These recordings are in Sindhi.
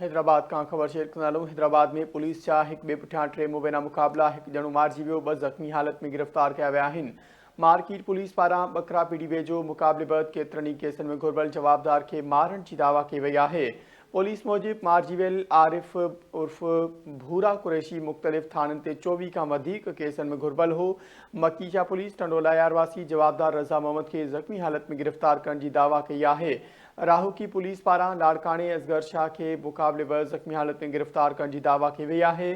حيدرآباد کان خبر شيئر ڪندا هلون حيدرآباد ۾ پوليس جا هڪ ٻئي پٺيان ٽي مبينا مقابلا هڪ ڄڻو مارجي ويو ٻه زخمي حالت ۾ گرفتار ڪيا ويا آهن مارڪيٽ پوليس پاران ٻڪرا پيڙي ويجهو مقابلي بعد ڪيترن ئي ڪيسن ۾ گهربل جوابدار کي مارڻ جي دعويٰ ڪئي وئي آهي پوليس موجب مارجي ويل عارف عرف ڀورا قريشي مختلف ٿاڻن تي چوويهه کان وڌيڪ ڪيسن ۾ گهربل هو مڪي شاهه پوليس ٽنڊولايار واسي جوابدار رضا محمد کي زخمي حالت ۾ گرفتار ڪرڻ جي دعويٰ ڪئي آهي راهوڪي پوليس پاران لاڙڪاڻي اصغر شاهه کي مقابلي بر زخمي حالت ۾ گرفتار ڪرڻ جي دعويٰ ڪئي وئي آهي،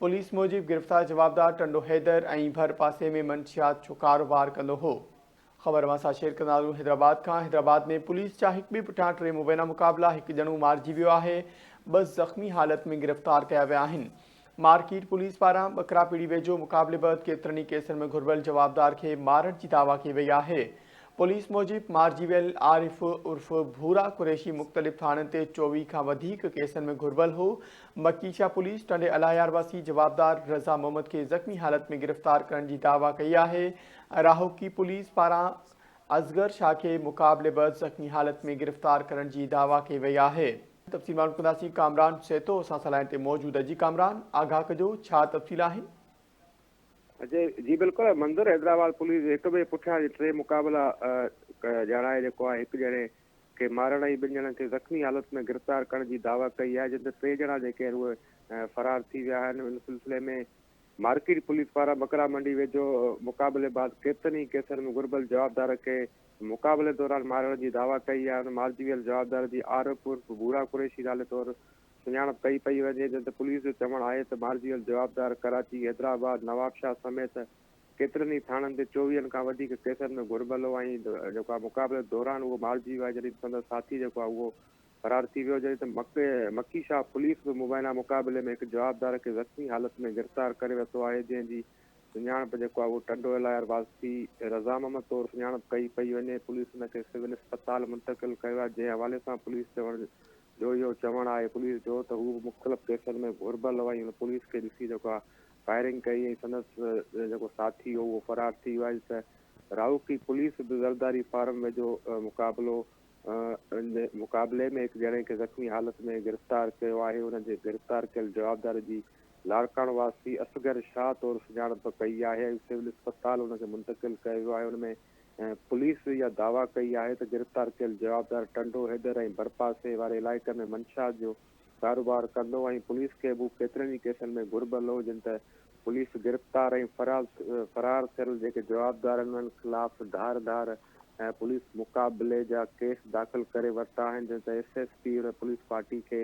پوليس موجب گرفتار جوابدار ٽنڊو حيدر ۽ ڀر پاسي ۾ منشيات جو ڪاروبار ڪندو هو. خبر اوهان سان شيئر ڪنداسون حيدرآباد کان حيدرآباد ۾ پوليس جا هڪ ٻئي پٺيان ٽي مبينا مقابلا هڪ ڄڻو مارجي ويو آهي ٻه زخمي حالت ۾ گرفتار ڪيا ويا آهن. مارڪيٽ پوليس پاران ٻڪراپيڙي ويجهو مقابلي بعد ڪيترن ئي ڪيسن ۾ گهربل جوابدار کي مارڻ جي دعويٰ ڪئي وئي آهي. پوليس موجب مارجي ويل عارف عرف ڀورا قريشي مختلف ٿاڻن تي چوويهه کان وڌيڪ ڪيسن ۾ گهربل هو. مڪي شاهه پوليس ٽنڊي الاهيار واسي جوابدار رضا محمد کي زخمي حالت ۾ گرفتار ڪرڻ جي دعويٰ ڪئي آهي. راهوڪي پوليس پاران اصغر شاهه کي مقابلي بعد زخمي حالت ۾ گرفتار ڪرڻ جي دعويٰ ڪئي وئي آهي. تفصيل معلوم ڪنداسين ڪامران سهتو اسان سان لائين تي موجود جي ڪامران آگاهه ڪجو ڇا تفصيل آهن. جي جي بلڪل منظر حيدرآباد پوليس هڪ ٻئي پٺيان جي ٽي مقابلا ڄاڻائي جيڪو آهي هڪ ڄڻي کي مارڻ ۽ ٻن ڄڻن کي زخمي حالت ۾ گرفتار ڪرڻ جي دعويٰ ڪئي آهي جن تي ٽي ڄڻا جيڪي آهن اهي فرار ٿي ويا آهن ان سلسلي ۾ مارڪيٽ پوليس پاران ٻڪرا منڊي ويجهو مقابلي بعد ڪيترن ئي ڪيسن ۾ گهربل جوابدار کي مقابلي دوران مارڻ جي دعويٰ ڪئي آهي ان مارجي ويل جوابدار جي عارف عرف ڀورا قريشي نالي طور سڃاڻپ ڪئي پئي وڃي جڏهن ته پوليس جو چوڻ آهي ته مارجي ويل جوابدار ڪراچي حيدرآباد نوابشاهه سميت ڪيترن ئي ٿاڻن تي چوويهن کان وڌيڪ ڪيسن ۾ گهربل هو ۽ جيڪو آهي مقابلي دوران اهو مارجي ويو آهي جڏهن ته سندس ساٿي جيڪو آهي اهو فرار ٿي ويو جڏهن ته مڪي شاهه پوليس به مبينا مقابلي ۾ هڪ جوابدار کي زخمي حالت ۾ گرفتار ڪري ورتو آهي جنهن جي سڃاڻپ جيڪو آهي اهو ٽنڊو الايار واسي رضا محمد طور سڃاڻپ ڪئي پئي وڃي پوليس ان کي سول اسپتال منتقل ڪيو آهي جنهن حوالي سان پوليس چوڻ جويو چوڻ آهي پوليس جو ته هو به مختلف ڪيسن ۾ گهربل هو ۽ هن پوليس کي ڏسي جيڪو آهي فائرنگ ڪئي ۽ سندس جيڪو ساٿي هو اهو فرار ٿي ويو آهي ته راهوڪي پوليس به زرداري فارم ويجهو مقابلو مقابلي ۾ هڪ ڄڻي کي زخمي حالت ۾ گرفتار ڪيو آهي ان جي گرفتار ڪيل جوابدار جي لاڙڪاڻو واسي اصغر شاهه طور سڃاڻپ ڪئي آهي ۽ سول اسپتال ان کي منتقل ڪيو ويو آهي ان ۾ پوليس اها دعويٰ ڪئي آهي ته گرفتار ڪيل جوابدار ٽنڊو حيدر ۽ ڀرپاسي واري علائقي ۾ منشا جو ڪاروبار ڪندو ۽ پوليس کي به هو ڪيترن ئي ڪيسن ۾ گهربل هو جن تحت پوليس گرفتار ۽ فرار ٿيل جيڪي جوابدار آهن انهن خلاف ڌار ڌار ۽ پوليس مقابلي جا ڪيس داخل ڪري ورتا آهن جنهن تي ايس ايس پي ان پوليس پارٽي کي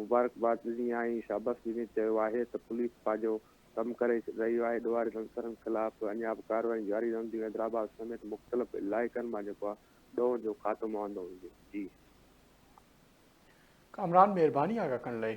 مبارڪباد ڏني آهي ۽ شاباس ڏني چيو آهي ته پوليس پنهنجو ڪم ڪري رهي آهي ڏوهاري عنصرن خلاف اڃا به ڪارروائيون جاري رهنديون حيدرآباد سميت مختلف علائقن مان جيڪو آهي ڏوهن جو خاتمو آندو ويندو جي ڪامران مھرباني آ ڪڪڻ لئي.